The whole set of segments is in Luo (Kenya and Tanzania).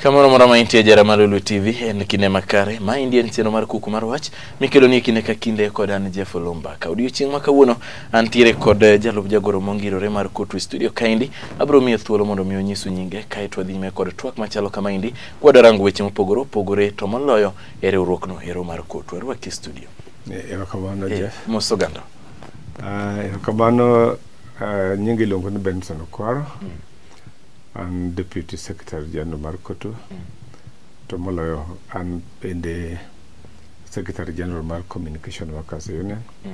kamoro moro ma intie jara mar Lulu TV en kinde makare ma indie en chenro mar kuku mar wach mikelo ni kinde ka kinde kod an Jeff Olumba ka odiochieng' ma kawuono Antiere kod eh, jalup jagoro mongirore mar Kotu e studio kaendi. Abiro miye thuolo mondo mi onyisu nyinge kae to wadhi kod twak machalo kama endi. Kwadwa rango weche mopogore opogore to moloyo e riwruokno ero mar Kotu. Arwaki e studio. Eh, erokamano eh, Jeff. Mos oganda. Ah, erokamano ah, nyinga iluongo ni Benson Okwaro. Mm. An Deputy Secretary General mar Kotu. Mm. To moloyo an bende Secretary General mar Communication Workers Union. mm.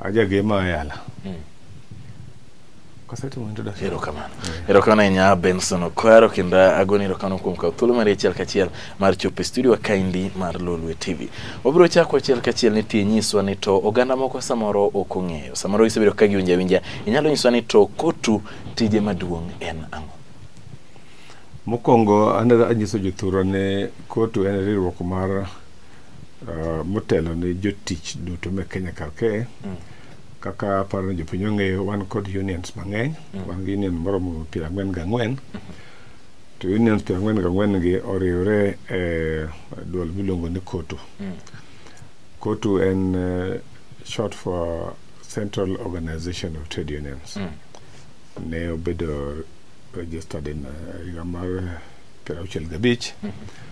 ajagema oyala mm. kasetimo introduction erokamano erokamano ahinya benson okwaro kendo agoni erokamano kuom kawo thuolo mari achiel kachiel mar chopo e studio kaindi mar lolwe tv wabiro chako achiel kachiel ni tie nyiswa ni to oganda moko samoro ok ong'eyo samoro isebedo ka giwinja winja inyalo nyiswa ni to kotu tije maduong' en ang'o mokwongo anyiso jothurwa ni kotu en riwruok mar uh, motelo ne jotich duto me Kenya kar kae mm. kaka aparo ni jopiny ong'eyo wan kod unions mang'eny mm. wan gi union moromo piero ang'wen gi ang'wen mm-hmm. to unions piero ang'wen gi ang'wen gi oriwre e duol miluongo ni kotu mm. kotu en uh, short for central organization of trade unions mm. ne obedo registered in uh, higa mar piero auchiel gabich mm -hmm.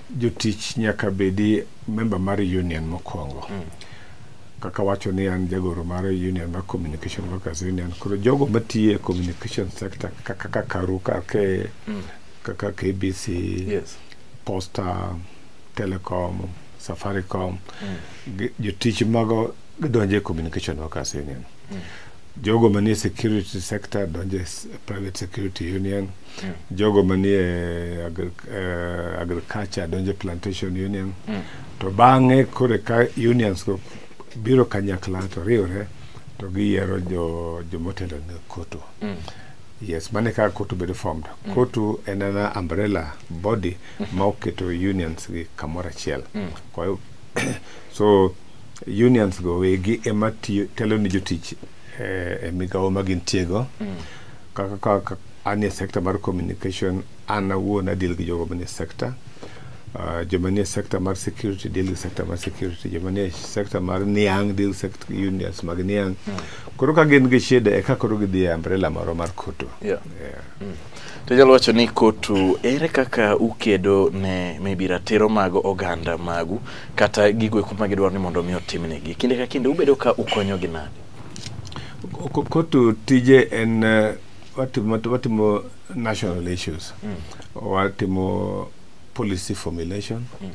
jotich nyaka bedi member mar union mokwongo mm. kaka wacho ni an jagoro mar union mar communication workers union koro jogo matiyo e communication sector kaka ka karu kake mm. kaka kbc yes. posta telecom safaricom mm. jotich mago gidonjo e communication workers union mm. jogo manie security sector donjo e private security union mm. jogo manie agri, uh, agriculture donjo plantation union mm. to bang'e kore ka unions go biro kanyakla to riwre to giyiero jo jomotelo ne koto mm. yes mane ka koto bedo formed mm. koto en ana umbrella body mm. ma oketo unions gi kamoro achiel mm. kwa hiyo so unions go wegi ema tiyo telo ne jotich eh, e migawo ma gintiego mm. kaka, kaka Anie sekta mar communication, an awuon adil gi jogo manie sekta. Uh, joma nie sekta mar security deal gi sekta mar security joma nie sekta mar niang' deal sect unions mag niang' koro ka gin gi shida e ka koro gidhi e umbrella moro mar koto Yeah. Yeah. To jalo wacho ni kotu ere kaka ukedo ne maybe ratiro mag oganda magu kata gigo eko ma gidwaro ni mondo mi otimnegi. Kinde ka kinde ubedo ka ukonyogi nade? Ko- koto tije en eh, watimo watimo national issues mm. watimo policy formulation mm.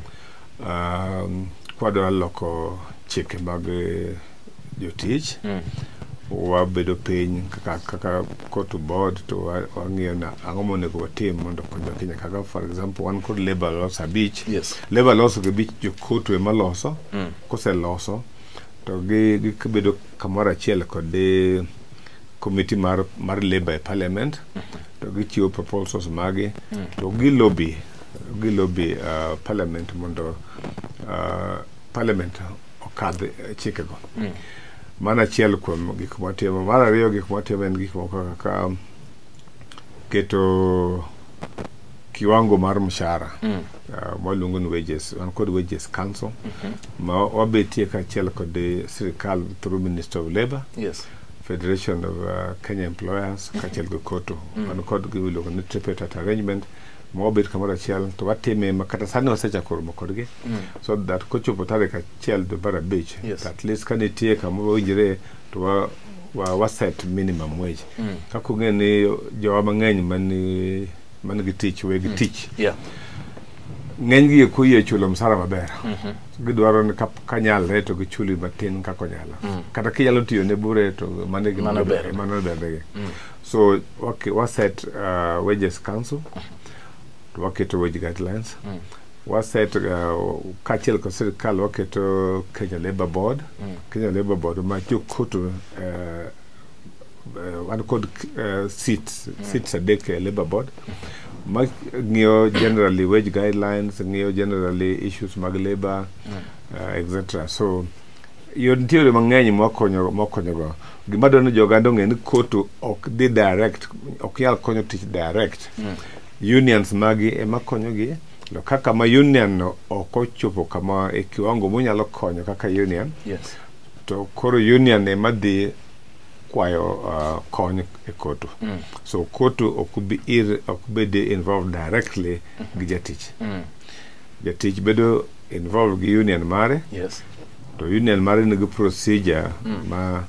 um, kwadwa loko chike mag jotich mm. wabedo piny kaka, kaka kotu board to wang'iyo na ang'o monego watim mondo konyo kenya kaka for example wan kod labor laws abich yes. labor laws gi bich jokotu ema loso mm. koseloso to gibedo gi kamoro achiel kod committee mar, mar labor e parliament to gichiwo proposals magi to gilobi gilobi uh, parliament mondo uh, parliament okadh eh, chikego mano achiel kuom gik mwatimo mar ariyo gik mwatimo en gik moko kaka um, keto kiwango mar mshahara uh, mwaluongo ni wages wan kod wages council ma wabetie kaachiel kod eh, sirikal through minister of labour Yes. Federation of uh, Kenya Employers mm-hmm. kaachiel gi KOTU mm. wan kod gimiluongo ni tripartite arrangement ma wabet kamoro achiel to watime ma kata sani wasechako romo kodgi mm. so that kochopo tarik achiel dwe mar abich yes. at least ka nitie kama wawinjre to wa, wa, wa set minimum wage mm. kaka ung'e ni jowa mang'eny mani man gi tich weg mm. tich yeah. ng'enygi eko yie chulo msara maber mm -hmm. gidwaro ni kanyalre to gichuli matin kaka onyala mm. kata kinyalo tiyo ne bure to mano bendegi mm. so okay, waset uh, wages council to waketo wage guidelines mm. waset uh, kaachiel kod sirikal waketo kenya labour board mm. kenya labour board ma jokoto uh, uh, wan kod uh, seats seats adek e labor board ma ng'iyo generally wage guidelines ng'iyo generally issues mag labor uh, etc so yo nitie yore mang'eny mwakonyo mwakonyogo gima dwaro ni joganda ong'e ni kotu ok dhi direct ok nyal konyo tich direct unions magi ema konyogi to kaka ma union no ok ochopo kama e kiwango monyalo konyo kaka union Yes. to koro union ema dhi kwayo uh, kony e kotu mm. so kotu ok bi ir ok bed involved directly mm -hmm. gi jatich mm. jatich bedo involved gi union mare yes. to union mare nigi procedure mm. ma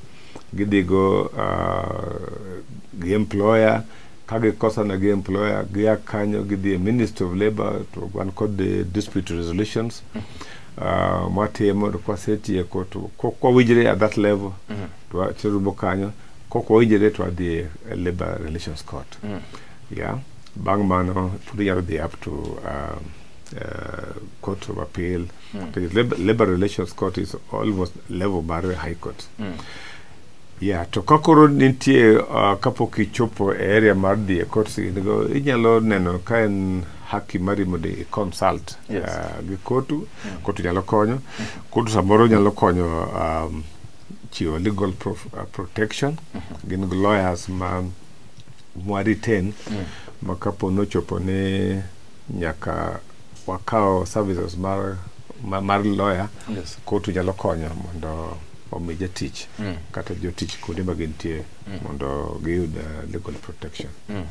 gidhigo uh, gi employer ka gikosana gi employer gia kanyo gidhi e ministry of labor to wan kod dispute resolutions mm -hmm. uh, mwatimo to kwasetieko to kwawinjre at that level mm -hmm. twarumo kanyo kok wawinjre to wadhi e labor relations court mm -hmm. yeah bang' mano pod inyalo dhi up to um, uh, court of appeal mm -hmm. labor, labor relations court is almost level mar high court mm -hmm. Yeah, to ka koro nitie uh, kapok ichopo e area mar dhi e court go inyalo neno ka en haki mari mondo i consult Yes. uh, gi kotu kotu nyalo konyo kotu samoro nyalo konyo um, chiwo legal prof, uh, protection gin gi lawyers ma mwaretain ma kapo nochopo ni nyaka wakawo services mar, ma, mar lawyer Yes. kotu nyalo konyo mondo omi jatich mm. kata jotich kuonde ma gintie mm. mondo giyud uh, legal protection mm.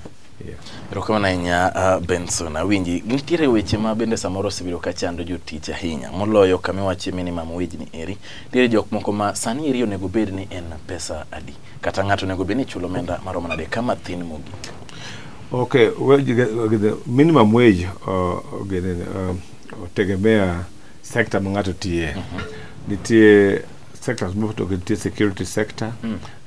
erokamano ahinya uh, benson awinji nitiere weche ma bende samoro osebedo ka chando jotich ahinya moloyo kama iwache minimum wage ni eri nitiere jok moko ma sani eri onego bed ni en pesa adi kata ng'ato onego bed ni chulo omenda maromo nade kama thin mogik okay well, minimum wage uh, uh, otegemea uh, sector ma ng'ato tiye nitie sectors mopogore gi nitie security sector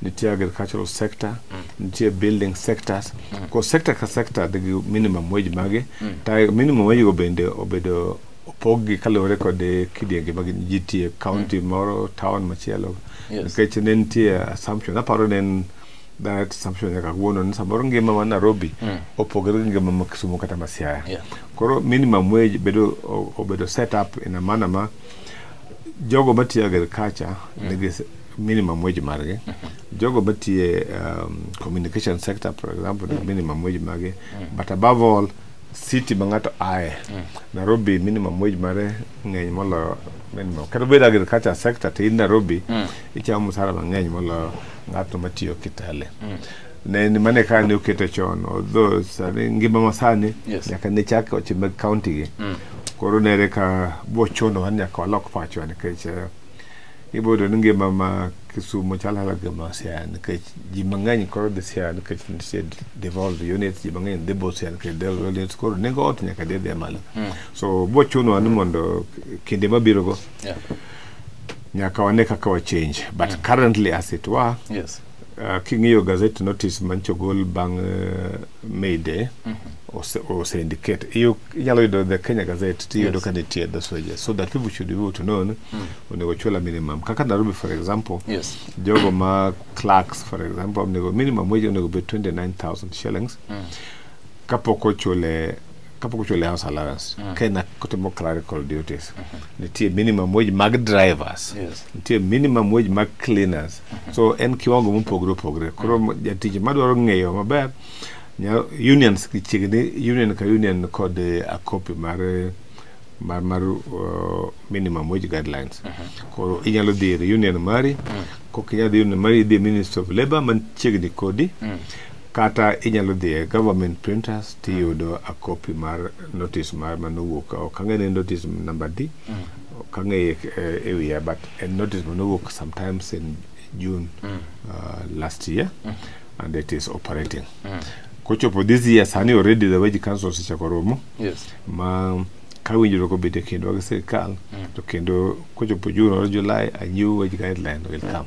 nitie agricultural sector nitie building sectors ko sector ka sector nigi minimum wage mage ta minimum wage go bende obedo opoggi kaluwore kod kidienje mag ji tiye county moro town machielo Yes. nikech ne nitie assumption aparo ne en that assumption nyaka kawuono ni samoro ngima ma Nairobi mm. opogore gi ngima ma Kisumu kata ma Siaya. Yeah. Koro minimum wage bedo obedo set up in a manner ma jogo matiyo agriculture mm. nigi minimum wage margi mm -hmm. jogo matiye um, communication sector for example mm. minimum wage margi mm. but above all city ma ng'ato aye mm. Nairobi minimum wage mare ng'eny moloyo minimum kata bedo agriculture sector to in Nairobi mm. ichamo msara mang'eny moloyo ng'atno matiyo kitale mm. ne ni mane ka ne okete chon odho sani ngima masani yes. nyaka ne chak oche mag county gi mm. koro nere ka bochono wan nyaka walok pachwa nikech eh, ibodo ni ngima ma kisumo chalo hala gima siaya nikech ji mang'eny koro dhi siaya nikech nitie devolve units ji mang'eny dhi bo siaya nikech devolve units koro nengo ot nyaka dhi dhi malo mm. so bochunowa ni mondo kinde mabirogo yeah. nyaka wane kaka wa change but mm. currently as it were yes. uh, king'iyo gazet notice mancho ogol bang uh, mayday mm -hmm. ose, ose indicate inyalo yudo the kenya gazette tiyudo yes. ka nitie the soja so that people should be able to know mm. onego chula minimum kaka nairobi for example yes. jogo ma clerks for example onego minimum wage onego be 29000 shillings mm. kapok ochule kapok ochuli house allowance mm. ka in kotimo clerical duties mm -hmm. nitie minimum wage mag drivers yes. nitie minimum wage mag cleaners mm -hmm. so en kiwango mopogore opogore koro mm -hmm. jatich madwaro ng'eyo maber unions chiegni union ka union kod eh, a copy mar eh, mar, mar uh, minimum wage guidelines uh mhm. -huh. koro inyalo dhi ir union mari uh mhm. -huh. kok inyalo dhi union mari idhi ministry of labor man chiegni kodi uh mhm. -huh. kata inyalo dhi e government printers tiyudo a copy mar notice mar manowuok ok ang'e ni notice number di mm. ok ang'e e wiya but a notice manowuok sometimes in june mm. uh, last year mm. and it is operating mm. kochopo this year sani already the wage council osechako romo yes. ma ka winjruok obedo e kindwa gi sirikal mm. to kendo kochopo june or july a new wage guideline will mm. come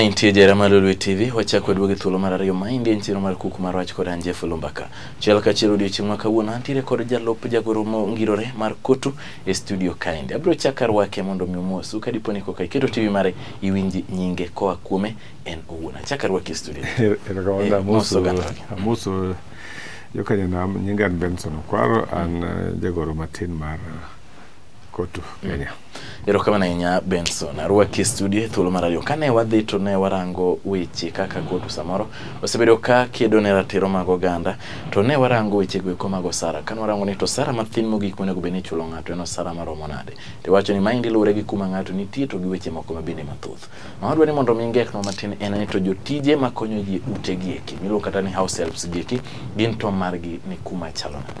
Nitie jera mar Lolwe TV, wachako duogi thuolo mar ariyo maendi en chiro mar kuku mar wach kod Anje Fulumbaka. Chiel ka chiel odiochieng' ma kawuono antiere kod jalop jagoro mongirore mar Kotu e studio kaendi. Abiro chaka rwake mondo mi omosu ka dipo ni koka iketo TV mare iwinji nyinge koa kuome en owuon. Achaka rwake e studio. Erokamano Eh, amoso moso oganda. amoso jokanyanam nyinga an Benson Okwaro an eh, jagoro matin mar eh, kotu kenya erokamano ahinya benson arwaki e studio e thuolo mar ariyo kane wadhi to ne warango weche kaka kotu samoro osebedo ka kedo ne ratiro mag oganda to ne warango weche goeko mag osara kane warango ni to osara mathin mogik monego bed ni ichulo ng'ato en osara maromo nade to iwacho ni maendi luwore gi kuma ng'ato nitie to gi weche moko mabende mathoth ma wadwa ni mondo mi ngeknwa matin en ni to jotije makonyo ji e ute gi eki miluongo kata ni house helps gi eki gin to margi ni kuma chalo nade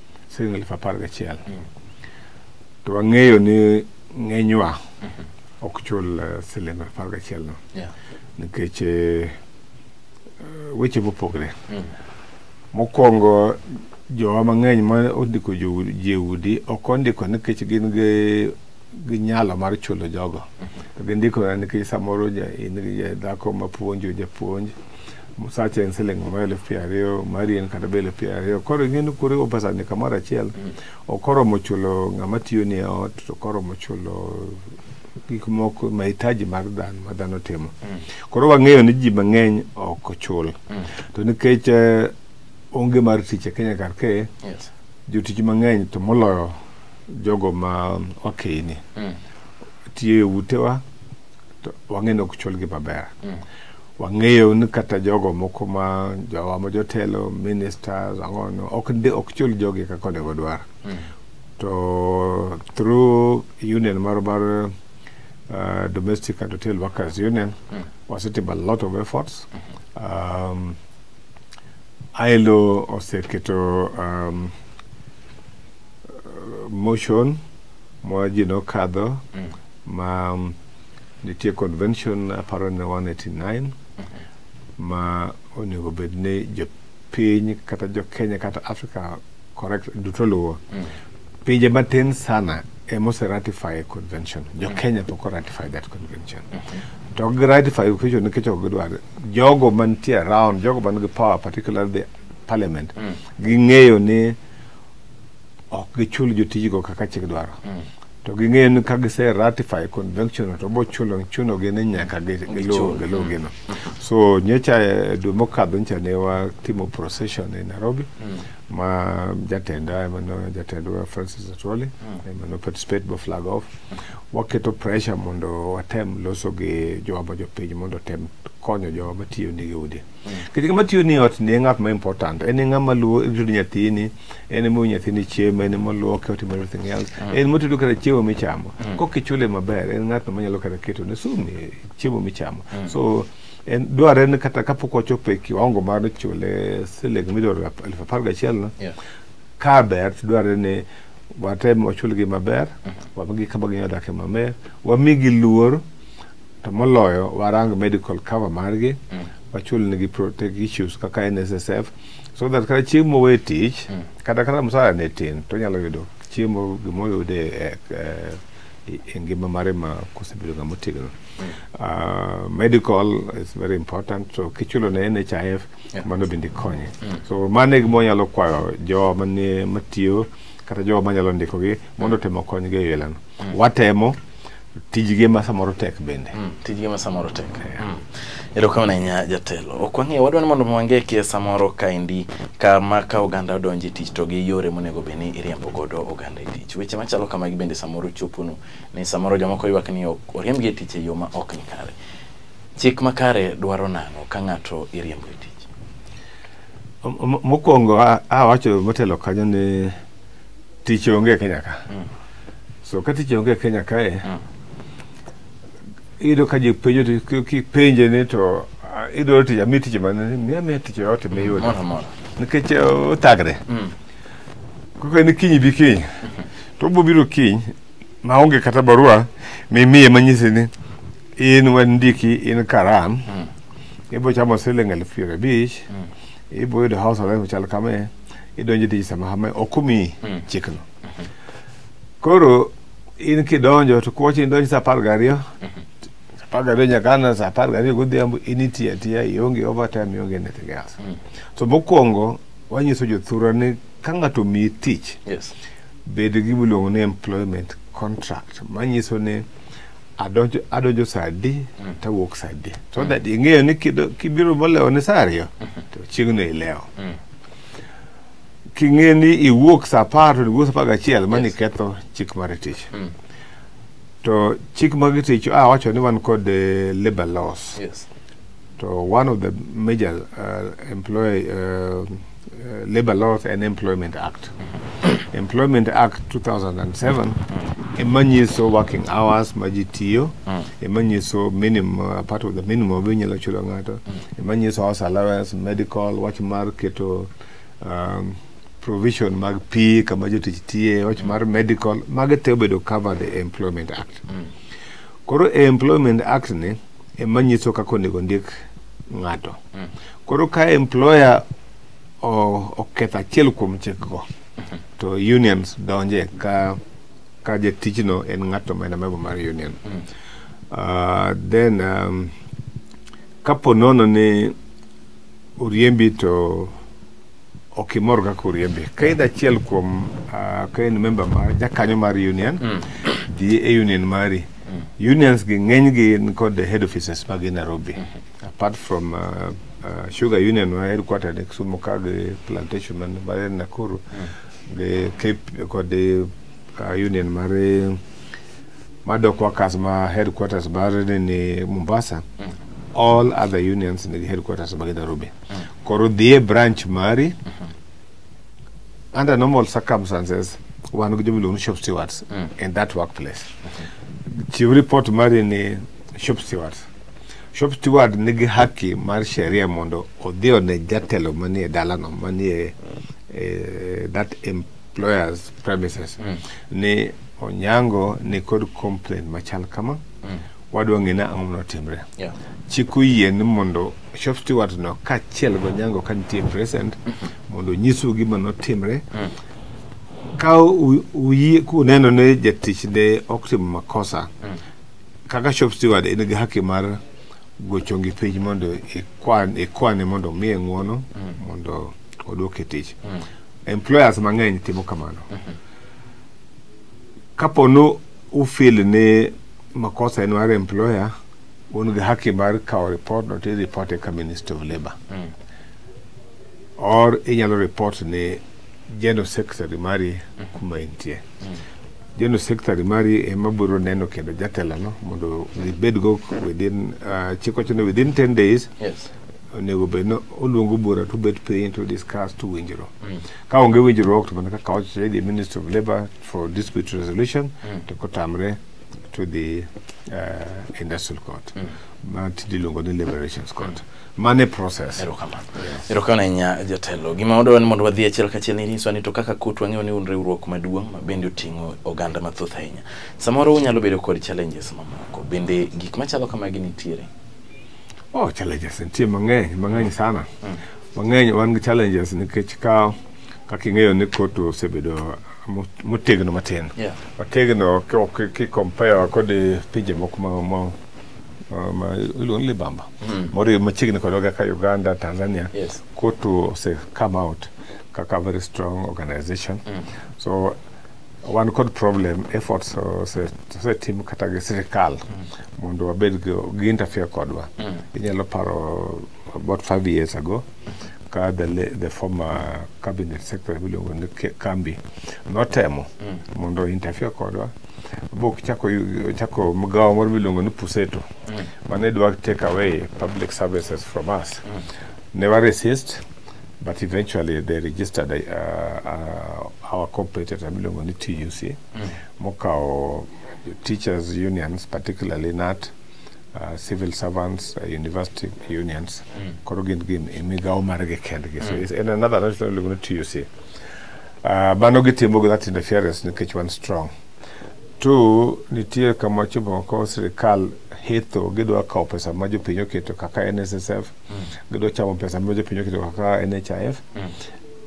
siling elfu apar gachiel to wang'eyo ni ng'enywa ok chul eh, siling apar gachiel no Yeah. nikech eh, weche mopogre Mm. mokwongo jowa mang'eny ma ondiko jo- ji e udi ok ondiko nikech gin gi gi nyalo mar chulo jogo to gindiko nikech samoro ja- in gi ja- dhako mapuonjo japuonj Musacha en siling moro elfu piero ariyo, mari en kata be elfu piero ariyo. Koro ing'e ni kuriwo pesani kamoro achiel, ok oromo chulo ng'ama tiyoni e ot, to ok oromo chulo gik moko mahitaji mar dhano ma dhano timo. Koro wang'eyo ni ji mang'eny ok ochul. To nikech eh, onge mar tich e Kenya kar kae, Yes. jotich mang'eny to moloyo jogo ma wakeyini Mm. tiyo e utewa to wang'e ni ok chulgi maber wang'eyo ni kata jogo moko ma jowa ma jotelo ministers ang'ono ok ndi ok chul jogi kaka onego dwar mm. to through union mar mar uh, domestic and hotel workers union mm. wasetimo a lot of efforts mm -hmm. um, ILO oseketo um, uh, motion ma ji nokadho mm. ma um, Nitie convention aparo ne 189 ma onego bed ni jopiny kata jo Kenya kata Africa correct duto luwo. Mm. Pinje matin sana emose ratify convention. Jo mm. Kenya pok ratify that convention. Mm -hmm. to ok giratify equation nikech ok gidwar jogo mantie around jogo man gi power particularly the parliament mm. ging'eyo ni ok gichul jotijgo kaka chik dwaro mm. to ging'eyo ni ka gise ratify convention no to bochulo chunogi ni nyaka gi- giluw Gichul. giluw gino so nyocha eh, dwe mokadho nyocha ne watimo procession e nairobi ma jatenda ema no- jatendwa francis atwoli ema no participate bo flag off waketo pressure mondo watem loso gi jowa ma jopiny mondo otem konyo jowa matiyo nigi udi kech ng'ama tiyo ni ot ni e ng'at ma important en e ng'ama luwo rito nyathini en emo nyathini chiemo en emo luoke otimo everything else mm. en motedo kata chiemo michamo mm. kok ichule maber en ng'atno manyalo kata keto ne sumi e chiemo michamo mm. so en dwarre ni kata kapok wachopo e kiwango mar chule siling midwaro elfu apar gachiel no yeah. ka ber tidwarre ni watem wachulgi maber mm. wamigi kama ginyalo dake maber wamigi luor to moloyo warang medical cover margi mm. wachulnegi protect issues kaka nssf so that kata chieng' mowe tich mm. kata kata msara ne tin to nyalo yudo chiemo gimoyude e, e, e ngima mare ma kosebedo ng'ama otegno mm. uh, medical is very important so kichulo ne nhif yeah. mano bende konye mm. so mano e gimonyalo kwayo jo manie matiyo kata jo manyalo ndikogi mondo otemo konygi e yelano mm. watemo tijgi ma samoro tek bende mm, tijgi ma samoro tek mm. erokamano ahinya jatelo ok wang'eyo wadwa ni mondo wange kia samoro kaendi kama ka oganda odonje tich to gi yore monego bed ni iriembo godo oganda e tich weche machalo kamagi bende samoro choponu ni samoro jomoko ywak ni oriembgi e tich e yo ma ok ni kare chik makare dwaro nang'o ka ng'ato iriembo e tich mokwongo awacho motelo kanyo ni tich onge e Kenya ka so ka tich onge e Kenya kae iyudo ka ji penjo ti- ki- kipenje ni to ah, idwaro tich ami tich mane miya miya tich yote miyudo Moro moro. nikech eh, othagre Mm. kaka ni kiny bi kiny to obiro biro kiny ma onge kata barua mimiye manyisi ni in wandiki in karam ibiro chamo siling elfu piero abich ibiro yudo house arrest machal kame idonjo tich sama hama ok omiyi hmm. chikno hmm. koro in kidonjo to kuwacho idonjo sa apar gariyo hmm. sa apar gariyo nyaka ana sa apar gariyo godhiambo in itiyo atiya ionge overtime ionge anything else so mokwongo wanyiso jothura ni ka ng'ato omiyi tich bed gi miluongo ni employment contract manyiso ni adonjo adonjo saa adi mm. tawuok saa adi so mm. that ing'eyo ni kibiro molewo ni saa ariyo mm-hmm. to chiegno ilewo mm. king'e ni iwuok sa apar to iwuok sa apar gachiel mani yes. ketho chik mar tich mm. to chik mag tich a ah, wacho ni wan kod uh, labor laws yes. to one of the major uh, employ uh, uh, labor laws and employment act Employment Act 2007 ema nyiso working hours ma ji tiyo ema nyiso minimum uh, part of the minimum be inyalo chulo ng'ato ema nyiso house allowance medical wach mar keto um, provision mag pi kama jotich tiye wach mar medical mago te obedo covered e employment act koro e employment act ni ema nyiso kaka onego ndik ng'ato koro ka employer oketho achiel kuom chikgo mhm. to unions donje ka ka jatijno en ng'ato ma en amebo mar union mm. uh, then um, kapo nono ni oriembi to ok imor kaka oriembi ka in achiel kuom uh, ka in member mar jakanyo mar union mm. dhi e union mari mm. unions gi ng'eny gi kod head offices mag Nairobi mm -hmm. apart from uh, uh, sugar union ma headquartered e Kisumu ka gi plantation man mar Nakuru gi Cape kod uh, union mar mar dock workers ma headquarters mar ni Mombasa all other unions nigi headquarters mag Nairobi koro dhie branch mari under normal circumstances wan gi jomiluongo ni shop stewards in that workplace chiw report mari ni shop stewards Shop Steward nigi haki mar sheria mondo odhi one jatelo manie dalano manie eh, that employer's premises mm. ni Onyango ni kod complaint machal kama mm. wadwa ng'e ni ang'o manotimre yeah. chik oyie ni mondo shop steward no kaachiel gi Onyango ka nitie present mondo onyiswu gima notimre mm. ka u- uyie kuneno ni jatich ne ok timo makosa mm. kaka shop steward in gi haki mar gocho gi piny mondo ikwan ikwane mondo omiye ng'uono mondo odwok e tich employers mang'eny timo kamano kapo ni ufil ni makosa en mar employer un gi haki mar kawo report no to ireport e ka minister of labour or inyalo report ni general secretary mari kuma intie General Secretary mari ema biro neno kendo jatelano mondo gibedgo within uh, chik wacho ni within 10 days Yes. onego bed ni oluongo bura to bet piny to discuss to winjruok ka onge winjruok to mana kaka wacho the minister of labour for dispute resolution to kotamre to the uh, industrial court ma tinde iluongo ni liberations court mane process erokamano erokamano ahinya jatelo gima wadwaro ni mondo wadhi achiel kachiel ni nyiswa ni to kaka kut wang'eyo ni un riwruok maduong' ma bende oting'o oganda mathoth ahinya samoro unyalo bedo kod challenges mamoko bende gik machalo kamagi nitiere oh challenges nitie mang'eny mang'eny sana mm. mang'eny wan gi challenges nikech ka kaka ing'eyo ni kut osebedo motegno matin yeah. otegno kikompare kod pinje moko ma ma iluongo ni libamba moriw machiegni kodwa kaka uganda tanzania Yes. kotu ose come out kaka very strong organization so wan kod problem efforts ose- osetim kata gi sirikal mondo wabed gi- gi interfere kodwa inyalo paro about five years ago ka the, la- the former cabinet secretary miluongo ni Ke- kambi notemo mondo interfere kodwa bok chako chako mgawa moro miluongo ni puseto mm. mane dwa take away public services from us mm. ne wa resist but eventually they registered uh, uh, our competitor miluongo ni tuc mm. mokawo teachers unions particularly nat uh, civil servants uh, university unions mm. koro gin gin e migawo margi kendgi so mm. it's in another national miluongo ni tuc Uh, mano gitimo gi that interference nikech wan strong. Two, nitie kama ochopo ko sirikal hetho gidwa kawo pesa ma jopiny oketo kaka NSSF, mm. gidwa chamo pesa ma jopiny oketo kaka NHIF. Mm.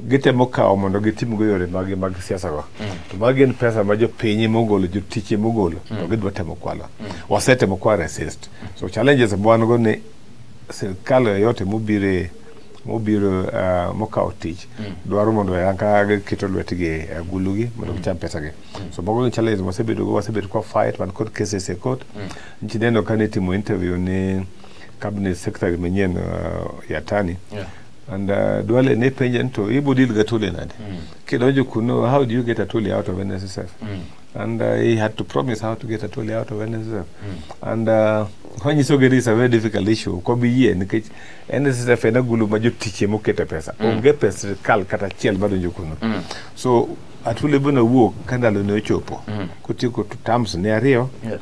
gitemo kawo mondo gitim go yore mag mag siasa go mm. to magi gin pesa ma jopiny mogolo jotich mogolo to mm. gidwa temo kwalo mm. wasetemo kwa resist so challenges mwan go ni sirkal yoyote mobire mobiro uh, mokawo tich mm. dwaro mondo ka giketo lwetgi e agulugi mondo mm. gicham pesagi mm. so mago gin challenges wasebedogo wasebedo kwa fight wan kod cases e court mm. ntineno ka nitimo interview ni cabinet secretary manyien uh, yatani yeah. and uh, dwale ne penja ni to ibo deal ga tole nade mm. kidonjo kuno how do you get a tole out of nssf mm. and uh, he had to promise how to get a tole out of nssf mm. and uh, wanyisogi ni it's a very difficult issue kobi yie nikech NSSF en agulu ma jotichie mokete pesa mm. onge pes sirkal kata achiel madonjo kuno mm. so atule bana wuok ka ndalo ne ochopo mm. kotieko tams ne ariyo yes.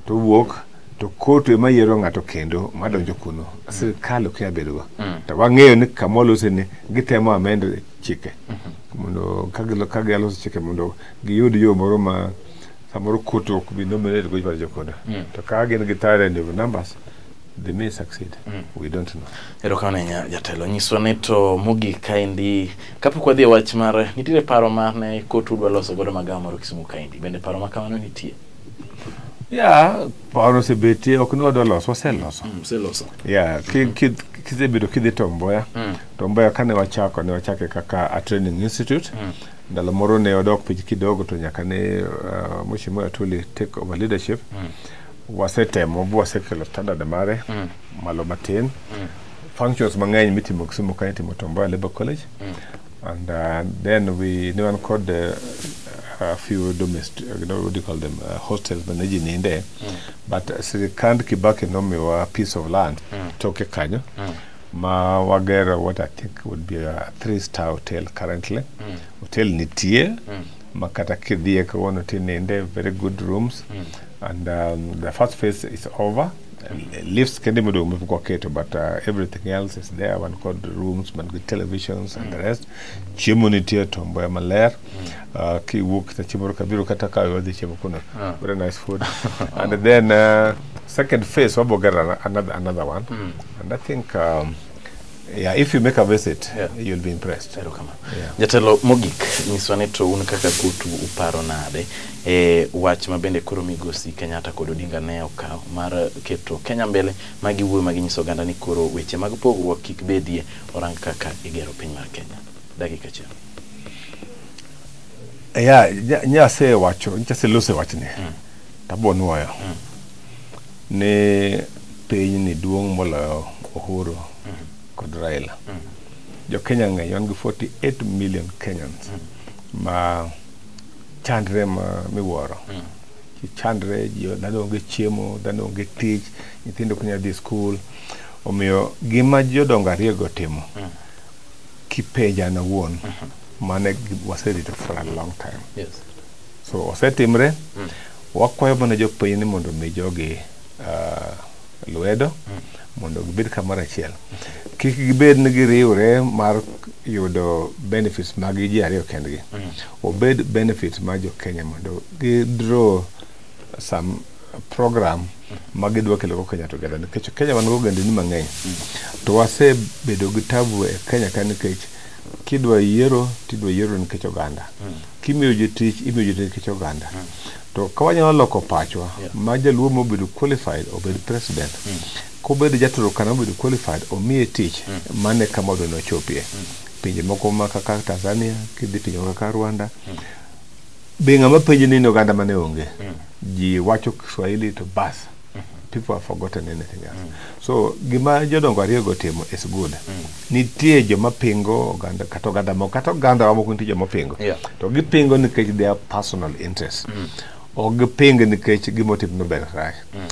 to wuok to kotu ema yiero ng'ato kendo madonjo kuno mm. sirkal ok yabedogo mm. to wang'eyo ni kamolose ni gitemo amend chike mm -hmm. mondo ka gialoso chike mondo giyud yo moro ma samoro kotu ok bi nominate go joma jokoda mm. to ka gin gi tare numbers They may succeed. Mm. We don't know. Erokamano ahinya jatelo nyiswa ni to mogik kaendi kapok wadhi e wach mar nitiere paro mar ne kotu dwa loso godo magawa moro Kisumu kaendi bende paro ma kamano nitie ya paro osebetie ok ni wadwa loso waseloso mm, useloso ya kisebedo kidhi Tomboya mm. Tomboya kane wachako ne wachake kaka a training institute mm. ndalo moro ne wadok piny kidogo to nyaka ne uh, Mheshimiwa Atuli take over leadership mm. wasetemo bwasekelo standard mare mm. malo matin mm. functions mang'eny mitimo Kisumu ka itimo Tom Mboya Labour College mm. and uh, then we ne wan kod uh, a few domestic you know, what do you call them uh, hostels ma ne ji ninde mm. but uh, sirikand Kibaki nomiwa piece of land mm. toke kanyo mm. ma wagero what I think would be a three star hotel currently mm. hotel nitie mm. ma kata kidhiye kawuono tininde very good rooms mm. and um, the first phase is over lifts kende modong' mepok waketo but uh, everything else is there wan kod rooms man gi televisions and the rest chiemo nitie to mboya maler uh, kiwuok kita chiemo kabiro kata ka wadhi chiemo kuno ah. very nice food and then uh, second phase wabogera another, another one mm. and i think um, Yeah, if you make a visit, yeah. you'll be impressed. Yeah. Jatelo mogik nyiswa ni to un kaka kutu uparo nade e wach ma bende koro migosi Kenyatta kod Odinga ne okawo mar keto Kenya mbele ma giwuoyo ma ginyiso oganda ni koro weche mag pogruok kik bedie orang kaka igero piny mar Kenya. Dakika achiel. Yeah, nyase wacho, nyase lose wachni. Mm. Tabuonwoyo. Mm. ni pinyni duong' moloyo Uhuru kod Raila. Jo Kenya ng'eny, wan gi 48 million Kenyans ma chandre ma miwuoro. Ji chandre, ji dhano onge chiemo, dhano onge tich, nyithindo ok nyal dhi skul. Omiyo gima jodongo ariyogo timo, kipenja an awuon, mano e gi- waserito for a long time. Yes. So osetimre, Wakwayo mana jopiny ni mondo mi jogi uh, lwedo mm. mondo gibed kamoro achiel. Kik gibed ni giriwre mar yudo benefits mag ji ariyo kendgi. Mm. Obed benefits ma jo Kenya mondo gidraw some program mm. ma gidwa kelo Kenya together nikech Kenya wan go gendini mang'eny. Mm. To wasebedo gi tabu e Kenya ka nikech kidwa yiero tidwa yiero nikech oganda. Mm. kimiyo ji tich imiyo ji nikech oganda mm. to ka wanyalo loko pachwa yeah. ma jaluo mobedo qualified obed president mm. kobedo jaturukana obedo qualified omiye tich mm. mane kama odwa nochopie mm. pinje moko ma kaka tanzania kidhi pinje moko kaka rwanda mm. be ng'ama penjo ni oganda mane onge mm. ji wacho kiswahili to bas people have forgotten anything else mm. so gima jodongo ariyogo otimo is good mm. nitie joma pingo oganda kata oganda moko kata oganda wa moko nitie joma pingo yeah. to gipingo nikech their personal interest mm. ok giping nikech gima otimno ber rach mm.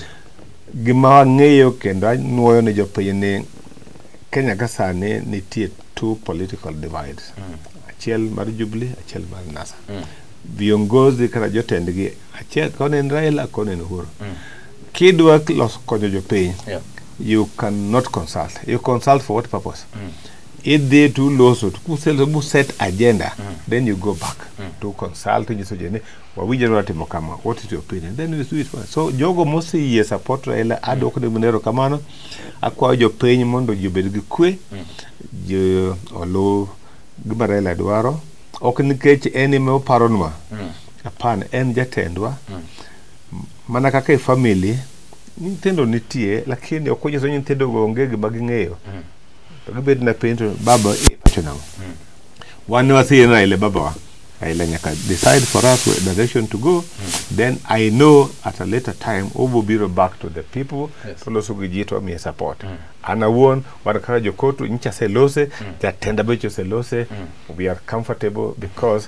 gima wang'eyo kendo anwoyo ne jopiny ni kenya ka sani nitie two political divides mm. achiel mar jubilee achiel mar nasa mm. viongozi kata jotendgi achiel koni en Raila koni en Uhuru mm. kidwa loso konyo jopiny yeah. you cannot consult you consult for what purpose mm. idhi to loso kuseloso set agenda mm. then you go back mm. to consult nyiso jene wawinjore watimo kama what is your opinion then we do it first. so jogo moseyie support Raila adwoko ne munero kamano akwayo jopiny mondo ji obed gi kwe mm. ji oluw gima Raila dwaro ok nikech en ema oparonwa mm. Hapana, en jatendwa mana kaka e family nyithindo nitie lakini ok onyiso ni nyithindogo onge gima ging'eyo to gibet na penj to baba e pacho nang'o wan ne waseyie ni Raila e babawa Raila nyaka decide for us where direction to go then I know at a later time obiro biro back to the people Yes. to loso gi ji to wamiye support an awuon wan kaka jokotu nyicha selose jatenda beche selose we are comfortable because